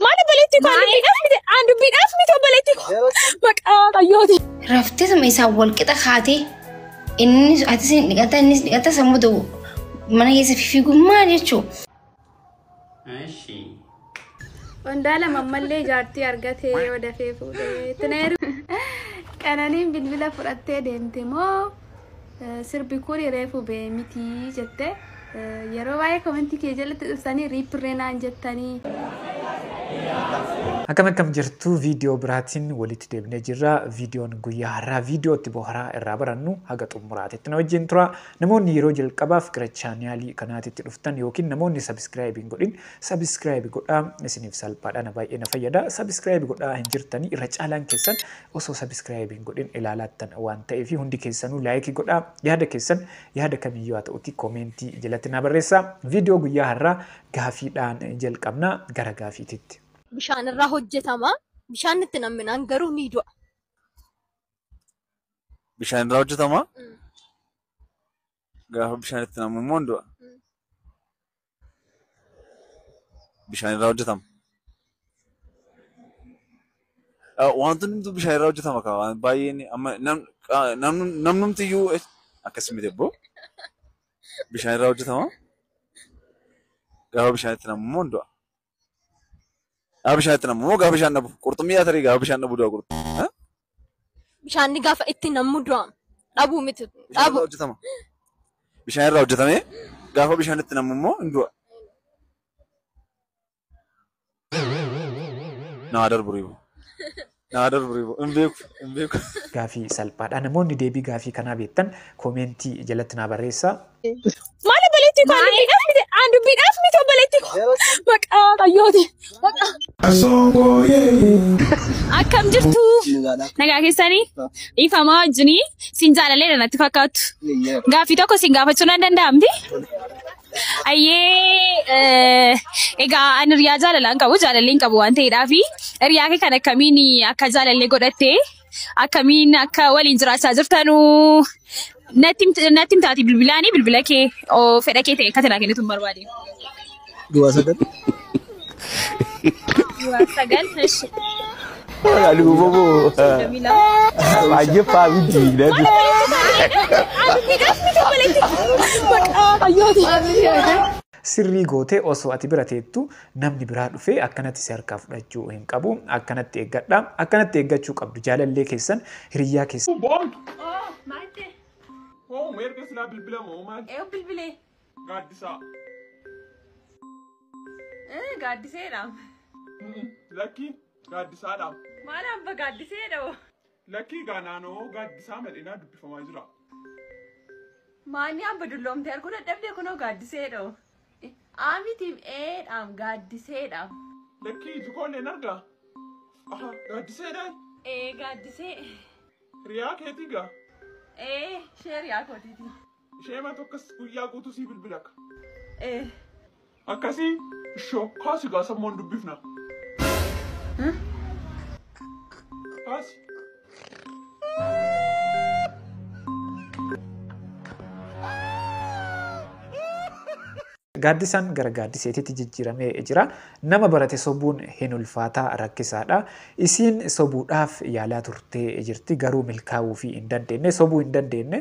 Maal obboleettii koo dubbiidhaaf miti aan dubbiidhaaf miti obboleettii koo maqaa qayyooti. Raftisuma isaan wal qixa kaatee innis atis hin dhiqata innis dhiqata sammuu ta'u mana keessa fiigummaa jechuu. Qondaala mammallee jaartii argatee yoo dafee fuudhee tineeru. Qananiin bilbila fudhattee deemte moo Eh, sirbi kun reefu ba'e miti jette Eh, yeroo baay'ee komentii kee jalatti dhuftanii riippirree naan jettanii Akkam akkam jirtu viidiyoo biraatiin walitti deebinee jirra. Viidiyoon guyyaa har'aa viidiyoo itti boharaa irraa barannu haga xumuraatitti na wajjin tura. Namoonni yeroo jalqabaaf gara chaanaalii kanaatitti dhuftan yookiin namoonni sabiskiraayib hin godhin sabiskiraayib godhaa isiniif salphaadha na baay'ee na fayyada. Sabiskiraayib godhaa hin jirtanii irra caalaan keessan Osoo subscribe hin godhin ilaalaattan waan ta'eefi hundi keessanuu like godhaa. Yaada keessan yaada kamiyyuu haa ta'uutii comment jalatti naa barreessaa. Video guyyaa har'aa gaafiidhaan jalqabna gara gaafiititti. bishaan irraa hojjetama. Bishaan itti namminaan garuu ni du'a. Bishaan irraa hojjetama. Mm. Gaafa bishaan itti namu immoo hin du'a. Bishaan irraa hojjetama. Ah, Wantoonni hunduu bishaan irraa hojjetama kaa waan baay'een amma nam- ah, namnum- namnumti iyyuu eh, akkas miti ebboo. Bishaan irraa hojjetama. Gaafa bishaan itti namu immoo hin du'a. Gaafa bishaan itti namu moo gaafa bishaan dhabu? Qurxummii yaa tarii gaafa bishaan dhabu du'a qurxummii. Bishaan ni gaafa itti nammu du'a. Dhabuu miti. Bishaan irraa Dhabu. hojjetama. Bishaan irraa hojjetamee gaafa bishaan itti namu immoo hin du'a. Naa darbu riibu. Naa darbri bo. Hin beeku. Hin beeku. Gaafii salphaadha. Namoonni deebii gaafii kanaa beektan koomeentii jalatti naa barreessaa. Maal obboleettii koo an dubbiidhaaf miti an dubbiidhaaf miti obboleettii koo maqaa qayyooti maqaa. Akkam jirtu nagaa keessanii dhiifamaa wajjinii siin jaalalee natti fakkaattu gaaffii tokko siin gaafachuu nan danda'amti. Ayyee egaa an hiriyaa jaalalaa hin qabu jaalallee hin qabu waan ta'eedhaa fi hiriyaa kee kan akkamiin akka jaalallee godhatte akkamiin akka waliin jiraachaa jirtanu natti himt- natti himtaati bilbilaanii bilbila kee oo fedha kee ta'e akka tanaa kennitu hin barbaade. Duwwaa sagal. Duwwaa sagal eshi. Alubo mo. Soddomii lama. Baay'ee faamiti nati. Sirrii gootee osoo ati bira teettu namni biraa dhufee akkanatti si harkaa fudhachuu hin qabu akkanatti eeggadha akkanatti eeggachuu qabdu jaalallee keessan hiriyyaa keessan. Boon. Maal ta'e? Hoo meerga silaa bilbilama hoo maal? Eewu bilbilee. Gaaddisaa. Eh, Gaaddiseedhaam. Mm-mm. Lakkii gaaddisaadhaam. Maal abba gaaddiseedha hoo? Lakkii gaa naanoo gaaddisaa mal'inaa dubbifamaa jira. Maanni abba dulloomtee arguu dadhabdee kunoo gaaddiseedha hoo? Eh, Aa mitiim eedhaam gaaddiseedhaam. Lakkii iji koo illee hin argaa. Aha gaaddiseedhaan Ee gaaddisee. hiriyaa keetii gaa. Ee sheeriyaa kootiiti. Isheema tokkas guyyaa guutuu sii bilbilaka. Ee. Akkasii ishoo kaasi gaa sammoon dubbifna. Kaasi. Gaaddisaan gara gaaddiseetitti jijjiiramee jira. Nama barate sobuun hin ulfaataa rakkisaadha. Isiin sobuudhaaf yaalaa turtee jirti garuu milkaa'uufii hin dandeenye sobuu hin dandeenye.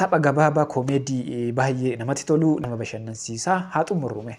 Tapha gabaabaa koomeedii baay'ee namatti tolu nama bashannansiisaa haa xumurrume.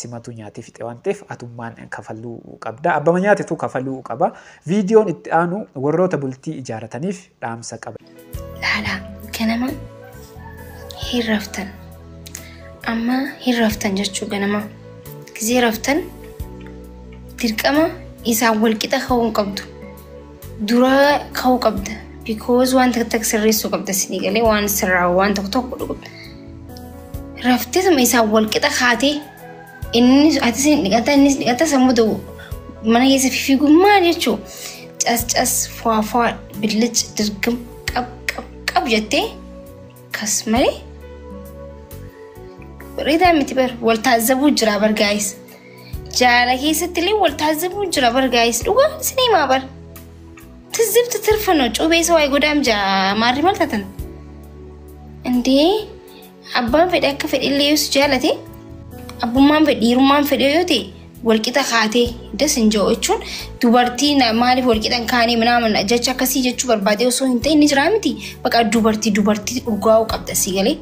Simatu nyaatee fixe waan ta'eef atummaan kafaluu qabda. Abbama nyaatetu kafaluu qaba. Viidiyoon itti aanu warroota bultii ijaarataniif dhaamsa qaba. Laalaa ganama hin raftan. Amma hin raftan jechuu ganama. Gizee raftan dirqama isaan walqixa ka'uu hin qabdu. Duraa ka'uu qabda. Because waan takka takka sirreessuu qabda isinii galee waan sirraa waan tokko tokko godhuu qabda. Rafteetuma isaan wal qixa kaatee innis atis ni dhiqata innis dhiqata sammuu ta'u mana keessa fiigummaa jechuu cas cas fuwaa fuwaa billic dirgim qab qab qab jettee kas malee bareedaa miti bar wal taazzabuu jira bar gaa'is. Jaala keessatti illee wal taasifamuun jira bar gaa'is dhugaa isin himaa bar. Tizzibti tirfano cuubee isa waa'ee godaam jaa maarri maal taatan? Indee abbaan fedhe akka fedhe illee yoo si jaalate abbummaan fedhe dhiirummaan fedhe yoo ta'e walqixa kaatee das hin jiru jechuun dubartii na- maaliif walqixa hin kaanee minaaman jecha akkasii jechuu barbaadee osoo hin ta'in ni jira miti baqa dubartii dubartii dhugaa'uu qabda si galee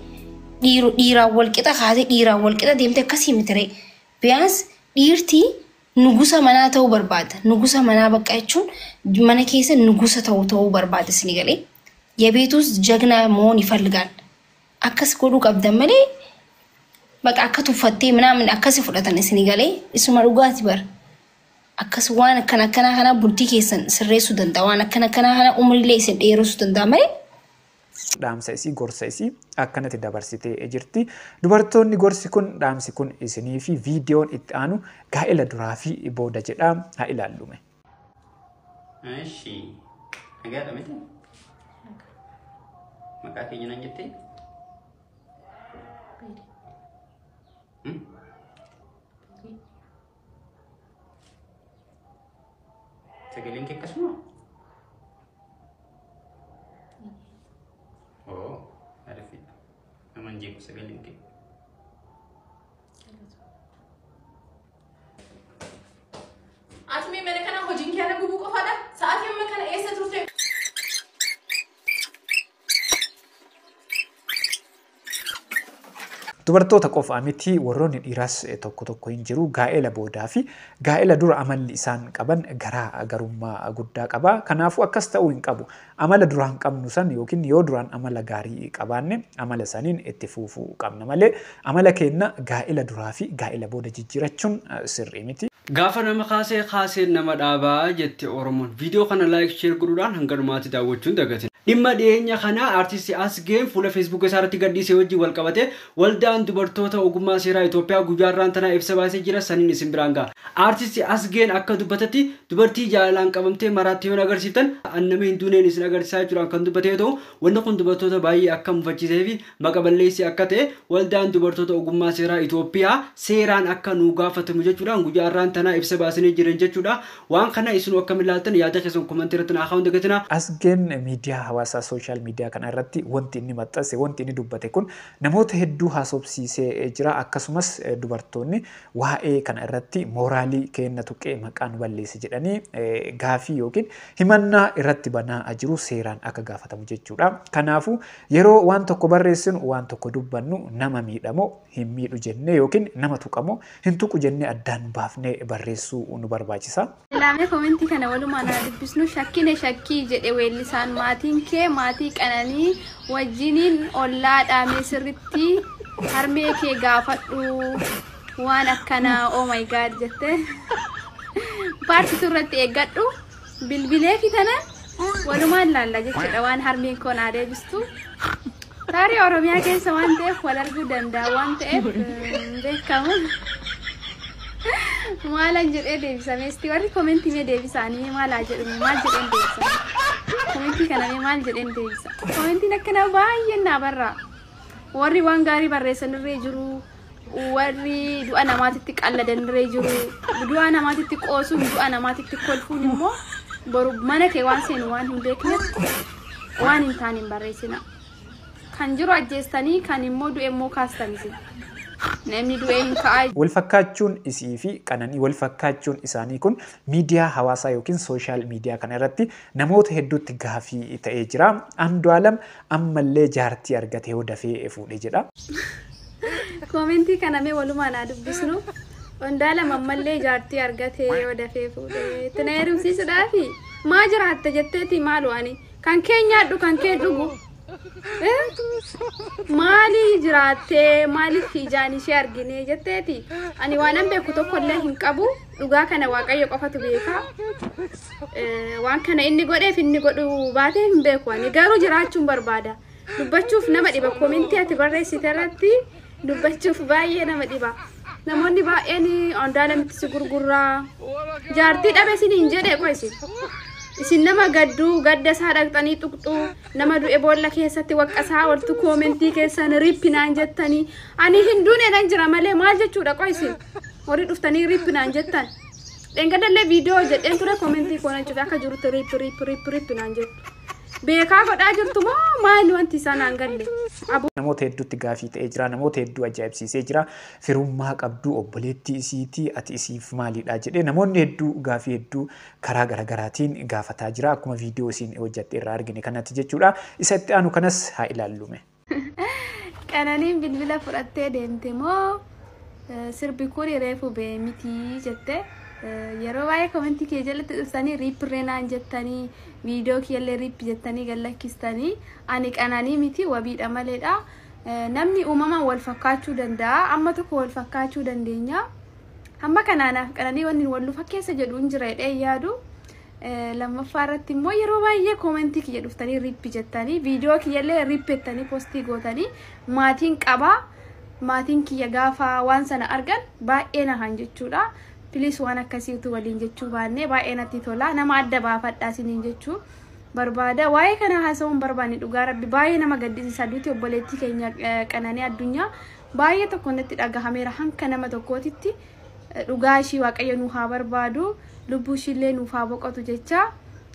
dhiiru dhiiraan walqixa kaatee dhiiraan walqixa deemte akkasii miti ree. Biyaans dhiirti nugusa manaa ta'uu barbaada. Nugusa manaa bakka jechuun mana keessa nugusa ta'u ta'uu barbaada isin galee. Yebeetuus jagnaa moon ifalgaan. Akkas godhuu qabdan malee baqa akka tuffattee minaamin akkasi fudhatan isin galee isuma dhugaati bar. Akkas waan akkan akkanaa kanaa bultii keessan sirreessuu danda'a. Waan akkan akkanaa kanaa umriilee isin dheeressuu danda'a malee dhaamsa isii gorsa isii akkanatti dabarsitee jirti. Dubartoonni gorsi kun dhaamsi kun isinii fi viidiyoon itti aanu gaa'ela duraa fi booda jedha haa ilaallume. Eshi. Nagaadha miti? Maqaa keenya nan jettee? Hmm? Sagaleen kee akkasuma? Oo, arifiidha. Nama hin jeequ sagaleen kee. Ati mee mana kana hojiin kee ana gubuu qofaadha? Sa'aatii amma kana eessa turte? Dubartoota qofaa miti warroonni dhiiraas tokko tokko hin jiru gaa'ela boodaa fi gaa'ela dura amalli isaan qaban garaa garummaa guddaa qaba. Kanaafuu akkas ta'uu hin qabu. Amala duraan qabnu san yookiin yoo duraan amala gaarii qabaanne amala saniin itti fuufuu qabna malee Amala keenna gaa'ila duraa fi gaa'ila booda jijjiirachuun sirrii miti. Gaafa nama kaase kaaseen nama dhaaba jette Oromoon. Viidiyoo kana like share godhuudhaan hanga dhumaatti daawwachuu hin dagatinaa. Dhimma dhiyeenya kana Artisti Asgeen fuula Feesbuuka isaa irratti gadhiise wajjin wal qabatee Waldaan Dubartoota Ogummaa Seeraa Itoophiyaa guyyaa har'aan tanaa ibsa baasee jira saniin isin biraan gaha. Artisti Asgeen akka dubbatetti dubartii jaalalaan qabamtee maraatte yoo na agarsiiftan an nama hin duuneen isin agarsiisaa jechuudhaan kan dubbate yoo ta'u wanni kun dubartoota baay'ee akka mufachiisee fi Maqa balleessii akka ta'e waldaan dubartoota ogummaa seeraa Itoophiyaa seeraan akka nuu gaafatamu jechuudhaan guyyaa har'aan tanaa ibsa baasanii jiran jechuudha. Waan kana isinuu akkam ilaaltan yaada keessan komantii irratti naa kaa'uun dagatina. Asgeen miidiyaa hawaasaa social miidiyaa kana irratti wanti inni maxxanse wanti inni dubbate kun namoota hedduu haasofsiisee jira akkasumas dubartoonni waa'ee kana irratti mooraalii keenna tuqee maqaa nu balleesse jedhanii gaafii yookiin himannaa irratti banaa jiru seeraan akka gaafatamu jechuudha. Kanaafuu Yeroo waan tokko barreessinu, waan tokko dubbannu nama miidha moo hin miidhu jennee yookiin nama tuqa moo hin tuqu jennee addaan baafnee barreessuu nu barbaachisa. Ilaamee komentii kana walumaan haa dubbisnu shakkine shakkii jedhe weellisaan maatiin kee maatii qananii wajjiniin ollaa dhaamee sirritti harmee kee gaafadhu waan akkanaa oh my god jette paartitu irratti eeggadhu Bilbileefi tana walumaan laalla jechuudha waan harmeen koo naa deebistu. Tarii Oromiyaa keessa waan ta'eef wal arguu danda'a waan ta'eef hin beekamu. Maalan jedhee deebisame isti warri komentii mee deebisaanii mee maalaa jedhume maal jedheen deebisame. Komentii kana mee maal jedheen deebisa. Komentiin akkanaa baay'een naa barraa. Warri waan gaarii barreessan irree jiru. warri du'a namaatitti qalladanirree jiru du'a namaatitti qoosuun du'a namaatitti kolfuun immoo boru mana kee waan seenu waan hin beekneef waan hin taane hin barreessina kan jiru ajjeestanii kan immoo du'e immoo kaastan isin namni du'e hin ka'aa Walfakkaachuun isii fi qananii walfakkaachuun isaanii kun miidiyaa hawaasaa yookiin sooshaal miidiyaa kana irratti namoota hedduutti gaafii ta'ee jira. Andu'aalam Ammallee jaartii argate hoo dafee efuudhe jedha. Koomentii kana mee walumaan haa dubbisnu. Ondaalam ammallee jaartii argate yoo dafee fuudhe itti na heerumsiisudhaafi maa jiraatta jetteeti maaloo ani kan kee nyaadhu kan kee dhugu maali jiraattee maaliif ijaan ishee argine jetteeti ani waanan beeku tokkollee hin qabu Dhugaa kana Waaqayyo qofatu beeka. Eh, Waan kana inni godheef inni godhuu baatee hin beeku ani garuu jiraachuun barbaada. Dubbachuuf nama dhiba komintii ati barreessite irratti dubbachuuf baay'ee nama dhiba. Namoonni baay'een Andu'aalamitti si gurgurraa. Jaartii dhabe isin hin jedhe qoy isin. Isin nama gadduu gadda isaa dhaqxanii tuqxu nama du'e boolla keessatti waqqasaa oltu koomentii keessan rippi naan jettanii ani hin duune nan jira malee maal jechuudha qoy isin. Warri dhuftanii rip naan jettan. Dheengadallee viidiyoo hojjedheen ture komentii koo nan cufe akka jirutti rip rip rip rip naan jettu. Beekaa godhaa jirtu moo maali wanti isaa naan galle. Aboo. Namoota hedduutti gaafii ta'ee jira. Namoota hedduu ajaa'ibsiisee jira. Firummaa qabduu obboleettii isiitii ati isiif maalidha jedhee namoonni hedduu gaafii hedduu karaa garagaraatiin gaafataa jira. Akkuma viidiyoo isiin hojjatte irraa argine kanatti jechuudha. Isa itti aanu kanas haa ilaallume. Qananiin bilbila fudhattee deemte moo eh, sirbi kun reefu bee miti jette Eh, yeroo baay'ee komentii kee jalatti dhuftanii riip reenaan jettanii viidiyoo kiyyallee riip jettanii gallakkistanii ani qananii miti wabiidha maleedha Eh, namni uumamaan wal fakkaachuu danda'a amma tokko wal fakkaachuu dandeenya amma kanaanaaf qananii wanni wal nu fakkeessa jedhu hin jira jedhee hin yaadu Lammaffaa irratti immoo yeroo baay'ee koomentii kiyya dhuftanii rippi jettanii viidiyoo kiyyallee rippi jettanii postii gootanii maatiin qabaa maatiin kiyya gaafa waan sana argan baay'ee nahan jechuudha. Piliis waan akkasii utuu waliin jechuu baannee baay'ee natti tola nama adda baafadhaa isiniin jechuu barbaada. Waa'ee kana haasa'uun barbaanne dhugaa rabbi baay'ee nama gaddisiisa duuti obboleettii keenya qananii addunyaa baay'ee tokko natti dhagahameera hanka nama tokkootitti. dhugaa ishii waaqayyo nuu haa barbaadu lubbuu ishiillee nuuf haa boqotu jecha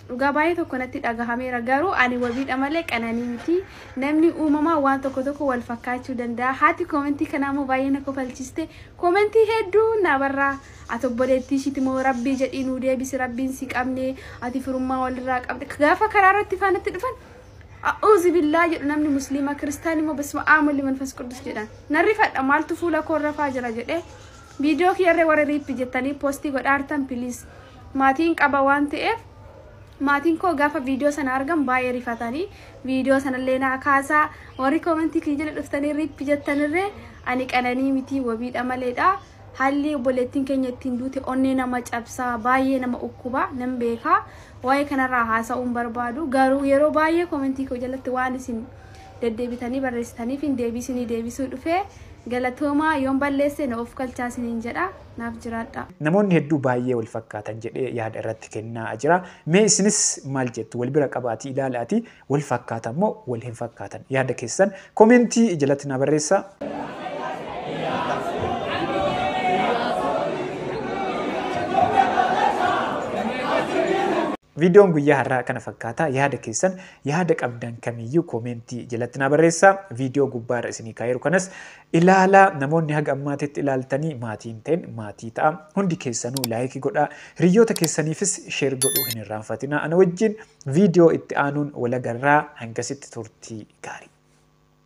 dhugaa baay'ee tokko natti dhagahameera garuu ani wabiidha malee qananii miti namni uumamaa waan tokko tokko wal fakkaachuu danda'a haati koomentii kanaa immoo baay'ee na kofalchiste koomentii hedduu naa barraa ati obboleettii ishiiti moo rabbii jedhii nuu deebisi rabbiin si qabne ati firummaa walirraa qabde gaafa karaa irratti faanatti dhufan A'uuzi billaa jedhu namni musliima kiristaan immoo bisma aamul liman fas quddus jedhan. Nan rifadha maaltu fuula koo irra faa jira jedhee viidiyoo kiyyarree warri riippi jettanii poostii godhaa artan piliis maatiin qaba waan ta'eef maatiin koo gaafa viidiyoo sana argan baay'ee rifatanii viidiyoo sanallee naa kaasaa warri koomentii kiyya jala dhuftanii riippi jettanirree ani qananii mitii wabiidha maleedha. Haalli obboleettiin keenya ittiin duute onnee nama cabsa, baay'ee nama ukkuba, nan beeka. Waa'ee kanarraa haasa'uun barbaadu. Garuu yeroo baay'ee komentii koo jalatti waan isin deddeebitanii barreessitaniif hin deebisinii deebisuu dhufe. Galatoomaa yoon balleesse na of kalchaa isiniin jedha. Naaf jiraadha. Namoonni hedduu baay'ee wal fakkaatan jedhee yaada irratti kennaa jira. Mee isinis maal jettu? Wal bira qabaatii ilaalaatii Wal fakkaatan moo wal hin fakkaatan? Yaada keessan comment jalatti naa barreessaa. Viidiyoon guyyaa har'aa kana fakkaata. Yaada keessan yaada qabdan kamiyyuu comment jalatti naa barreessaa. Viidiyoo gubbaarra isinii kaa'eeru kanas ilaalaa. Namoonni haga ammaatitti ilaaltanii maatii hin ta'in maatii ta'a. Hundi keessanuu like godhaa. Hiriyyoota keessaniifis share godhuu hin irraanfatinaa. Ana wajjin Viidiyoo itti aanuun wal agarraa hangasitti turtii gaarii.